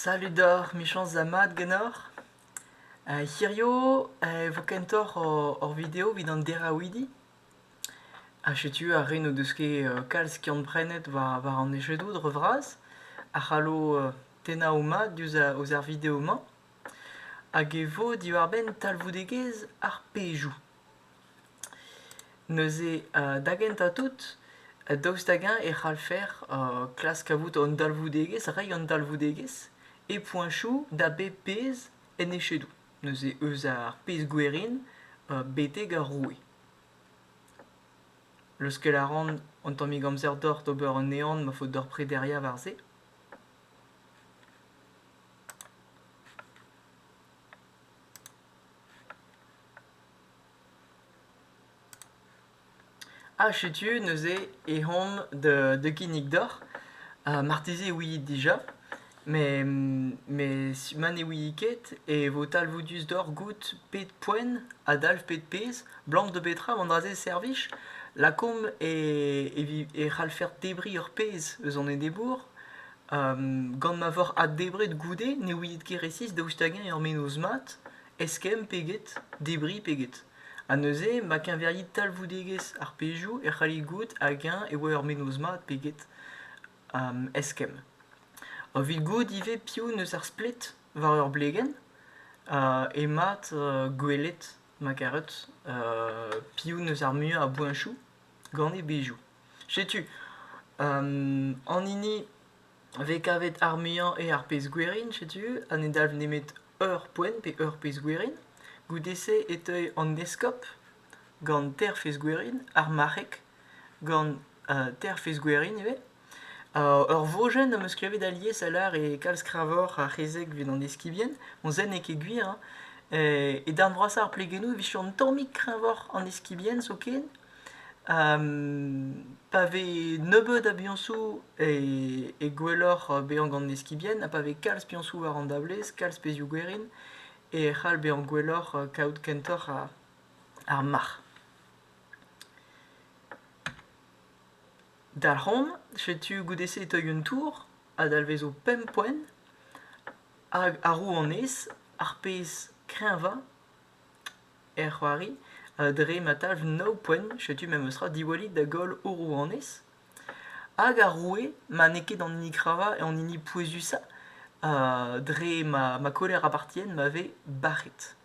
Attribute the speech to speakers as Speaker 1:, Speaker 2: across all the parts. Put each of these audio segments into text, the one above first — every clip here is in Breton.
Speaker 1: Salud deoc'h, michañs ha mat ganeoc'h. hirio e vo kentoc'h hor video evit an deraouidi. Ha setu ar re n'o deus ket kalz skiant-prenet war an echedoù dre vras a c'hallo tennañ o mad diouzh ar video-mañ. Hag e vo diwar-benn talvoudegezh ar pejoù. Neuze da gentañ tout, daoust hag-eñ e c'hallfer klask kavout an dalvoudegezh, reiñ an dalvoudegezh e poeñsoù da bep pezh en echedoù, neuze eus ar pezh gwerin betek ar roue. Leuskel a ran an tammig amzer deoc'h d'ober an ehan ma faot deoc'h prederiañ war se. Ha setu neuze eh omp da kinnig deoc'h. marteze ouiit dija, met ma ne ouiit ket e vo talvoudus deoc'h goût pet poent a dalv pet pezh, 'blam da betra an dra-se servij. Lakaomp e c'hallfec'h debriñ ur pezh eus an enebour gant ma voc'h addebret goude ne ouiit ket resis daoust hag-eñ ur mennozh mat eskemm pe get debriñ pe get ha neuze ma keñverit talvoudegezh ar pezhioù e c'hallit goût hag-eñ e oa ur mennozh mat pe get eskemm evit goût ivez piv 'neus ar splet war ur blegenn e mat gwelet ma karet piv 'neus ar muiañ a boeñchoù gant e bezhioù Setu, an hini vez kavet ar muiañ eo ar pezh-gwerin, setu, ha ne dalv nemet ur poent pe ur pezh-gwerin. Goude-se e teuy an eskob gant teir fezh-gwerin, ar marc'heg gant teir fezh-gwerin ivez. ur vojenn am eus klevet alies a lâr eo kalz kreñvoc'h ar c'hezeg evit an eskibien. Bon, se n'eo ket gwir, hein. E darn vrasañ ar plegennoù e vije un tammig kreñvoc'h an eskibien zoken. Pa vez nebeut a biañsoù e gwelloc'h bezañ gant eskibien ha pa vez kalz piañsoù war an dablez, kalz pezhioù-gwerin e c'hall bezañ gwelloc'h kaout kentoc'h ar marc'h. Dalc'homp, setu goude-se e teuy un tour a dalvezo pemp poent hag arru honnezh ar pezh kreñvañ Er c'hoari, dre ma talv nav poent, setu memestra diwallit da goll ho rouanez. Hag ar roue, ma n'eo ket an hini kravañ, an hini pouezusañ, dre ma ma koler apartient ma vez bac'het.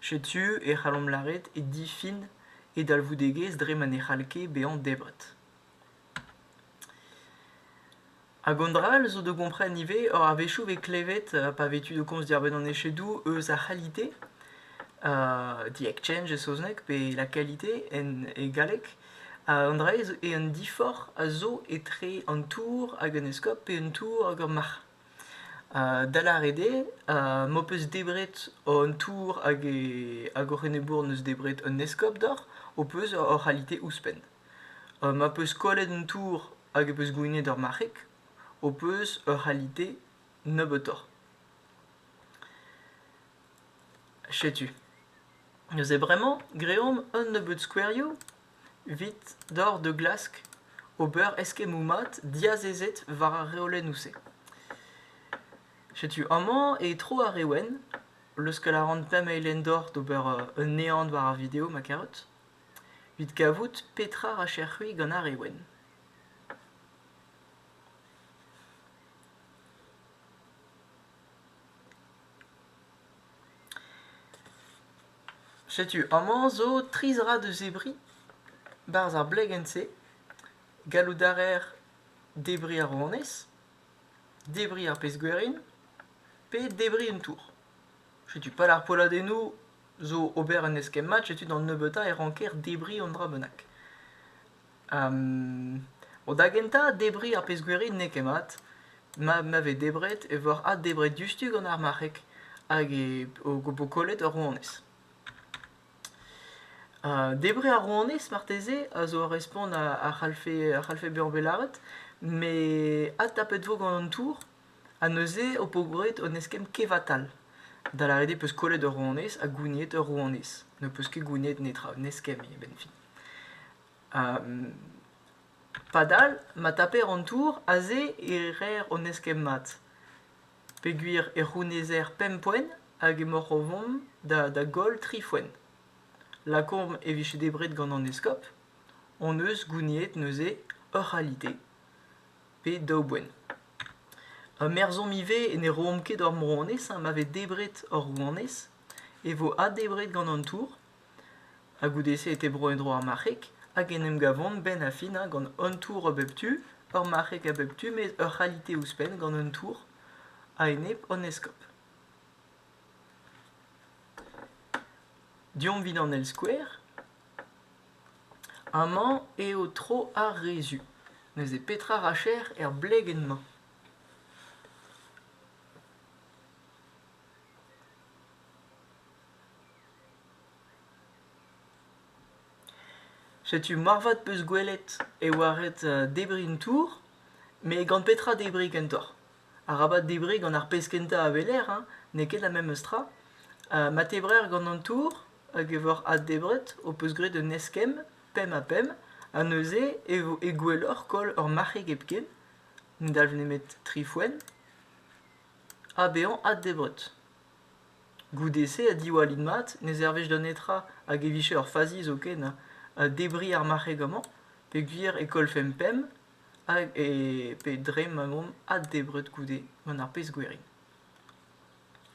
Speaker 1: Setu e c'hallomp lâret e difin e dalvoudegezh dre ma ne c'hall ket bezañ debret. Hag an dra-all zo da gompren ivez, oc'h a-wechoù vez klevet, pa vez tu de komz diarbenn an echedoù, eus ar c'halite, the exchange e saozneg, pe la qualité en e galleg. An dra-se zo eo un diforc'h a zo etre an tour hag un eskob, pe un tour hag ur marc'h. Da lâret eo, m'ho peus debret an tour hag hoc'h enebour 'neus debret un eskob deoc'h, ho peus hor c'halite ouzhpenn. ma peus kollet an tour hag e peus gouinet ur marc'heg ho peus ur c'halite nebeutoc'h. Setu. Neuze bremañ greomp un nebeud skouerioù 'vit dor da glask ober eskemmoù mat diazezet war ar reolennoù-se. Setu amañ e tro ar re wenn, leuskel a ran pemp eilenn dor d'ober un ehan war ar video, ma karout. 'Vit kavout petra 'racher-c'hwi gant ar re wenn. Setu amañ zo tri zra deus zebriñ 'barzh ar blegenn-se. Gallout a reer debriñ ar rouanez, debriñ ar pezh-gwerin pe debriñ un tour. Setu pad ar polladennoù zo ober un eskemm-mat, setu d'an nebeutañ e ranker debriñ un dra bennak. Bon, da gentañ, debriñ ar pezh-gwir n'eo ket mat. Ma ma vez debret e vor addebret diouzhtu gant ar marc'heg hag e vo kollet ur rouanez. Debriñ ar rouanez marteze a zo ur respont a c'hallfe a c'hallfe bezañ bet lâret, met adtapet vo gant an tour. Ha neuze ho po gwraet un eskemm kevatal. Da lâret eo peus kollet ur rouanez ha gouniet ur rouanez. Ne peus ket gouniet netra, un eskemm eo a-benn fin. padal ma taper an tour aze e reer hon eskemm mat. Peogwir e c'hounezer pemp poent hag emaoc'h o vont da da goll tri foent. Lakaomp e vije debret gant an eskob hon eus gouniet neuze ur c'halite. pe daou boent. Ur merzhom ivez e ne roomp ket hor rouanez ha ma vez debret hor rouanez e vo addebret gant an tour ha goude-se e tebro en-dro ar marc'heg hag en em gavont benn ar fin hein, gant un tour a bep tu, ur marc'heg a bep tu met ur c'halite ouzhpenn gant un tour a-enep an eskob. Deomp 'vit an eil skouer. Amañ eo tro ar rezhu, neuze petra racher er blegenn-mañ ? Setu moarvat 'peus gwelet e oa ret debriñ un tour, met gant petra debriñ kentoc'h ? Arabat debriñ gant ar pezh kentañ a weler, n'eo ket la memes tra. Ma tebrer gant an tour hag evaoc'h addebret ho peus graet un eskemm pemp-ha-pemp ha neuze e vo e gwelloc'h koll ur marc'heg hepken ne dalv nemet tri foenn ha bezañ addebret goude-se ha diwallit mat ne servij da netra hag e vije ur fazi zoken ha debriñ ar marc'heg amañ peogwir e kollfemp pemp hag e pe dre ma omp addebret goude gant ar pezh gwerin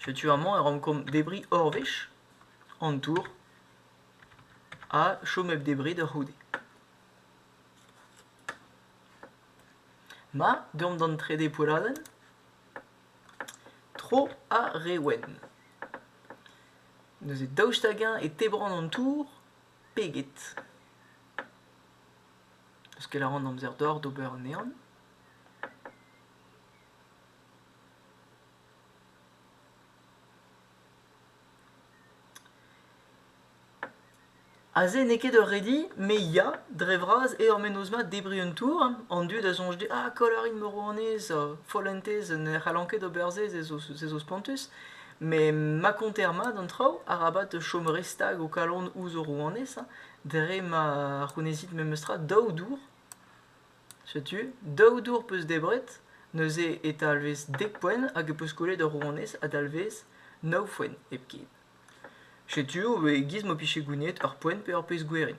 Speaker 1: Setu amañ e rankomp debriñ hor wech, an tour, ha chom hep debriñ da c'houde. Ma, deomp d'an trede poelladenn. Tro ar re wenn. Neuze daoust hag-eñ e tebran an tour peget Parce qu'elle a en amzer d'or d'ober anezhan. Aze n'eo ket ur redi, me ya, dre vras eo ar mennozh-mañ debriñ un tour, an dud a soñj dit ah Kolarin Morvanez, follentez ne c'hallan ket ober se, se zo se zo spontus, met ma konter mat an traoù, arabat chom re stag ho kalon ouzh ho rouanez, dre ma c'hounezit memes tra daou dour. Setu daou dour 'peus debret, neuze e talvez dek poent hag e 'peus kollet ur rouanez a dalvez nav foent hepken. Setu o vez e-giz m'ho pije gounid ur poent pe ur pezh gwerin.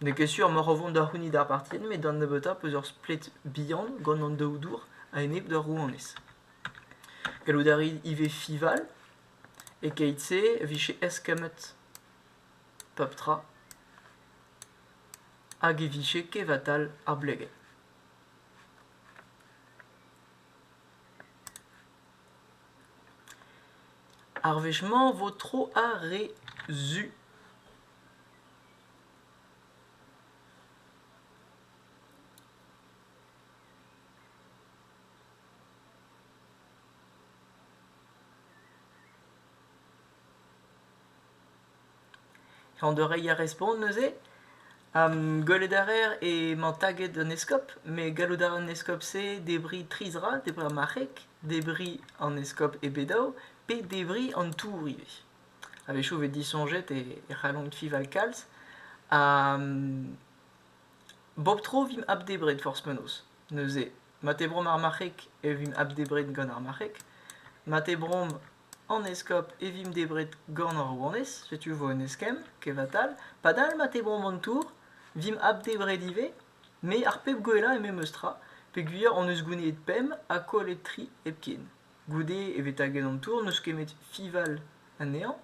Speaker 1: N'eo ket sur m'oc'h o vont da c'hounit ar partien met da nebeutañ 'peus ur splet bihan gant an daou dour a-enep d'ur rouanez. Gallout a rit ivez fival, e-keit-se 'vije eskemmet pep tra. hag e vije kevatal ar blegenn. Ar wech-mañ 'vo tro ar re zu. An dorreiñ a respont neuze. Gwelet a reer emañ taget un eskob met gallout a ra an eskob-se debriñ tri zra, debriñ ar marc'heg, debriñ an eskob e Bedaou pe debriñ an tour ivez. A-wechoù e vez disoñjet e c'hallont fiñval kalz ha bep tro vimp abdebret forzh penaos. Neuze, mat eo bromp ar marc'heg e vimp abdebret gant ar marc'heg. Mat eo bromp An eskob e vimp debret gant hor rouanez, setu 'vo un eskemm, kevatal. Padal ma tebromp an tour, vimp abdebret ivez, me ar pep gwellañ eo memes tra, peogwir hon eus gouniet pemp ha kollet tri hepken. Goude e vez taget an tour, n'eus ket met fival anezhañ.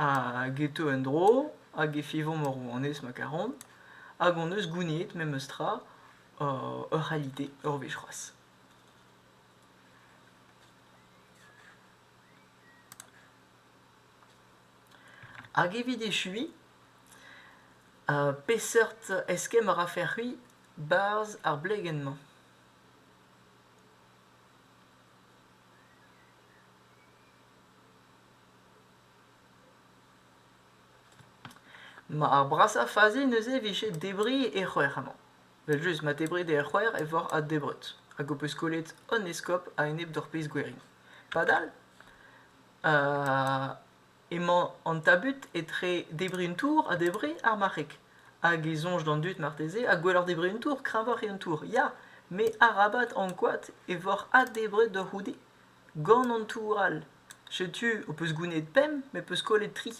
Speaker 1: Ha geto en-dro, hag e fevomp hor rouanez ma karomp, hag hon eus gouniet memes tra ur c'halite ur wech c'hoazh. Hag evit echuiñ, peseurt eskemm a rafe-c'hwi 'barzh ar blegenn-mañ? Ma ar brasañ fazi neuze 'vije debriñ e c'hwec'h amañ. Evel-just, ma debrit eo ar c'hoaer e voc'h addebret, hag ho peus kollet an eskob a-enep d'hor pezh gwerin. Padal, emañ an tabut etre debriñ un tour ha debriñ ar marc'heg. Hag e soñj d'an dud marteze, ha gwelloc'h debriñ un tour, kreñvoc'h eo an tour, ya! Met arabat ankouaat e voc'h addebret deoc'h c'houde gant an tour all. Setu, ho peus gounid pemp, met ho peus kollet tri.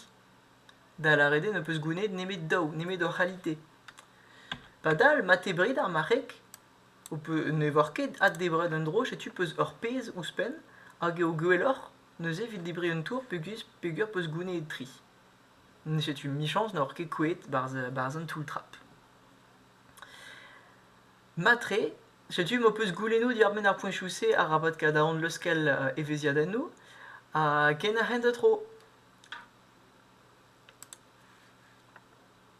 Speaker 1: Da lâret eo n'ho peus goulennet nemet daou, nemet hor c'halite. Padal, ma te bred ar marc'heg, ho pe- ne oar ket addebret un dro, setu peus ur pezh ouzhpenn, hag eo gwelloc'h neuze evit debriñ un tour peogwir peogwir peus goulennet tri. Setu 'michañs n'oc'h ket kouezhet 'barzh 'barzh an toull-trap. Matre, setu m'ho peus goulennoù diàr-benn ar poeñchoù-se arabat kadañ leuskel evezhiadennoù. Ha kenañ hent da tro.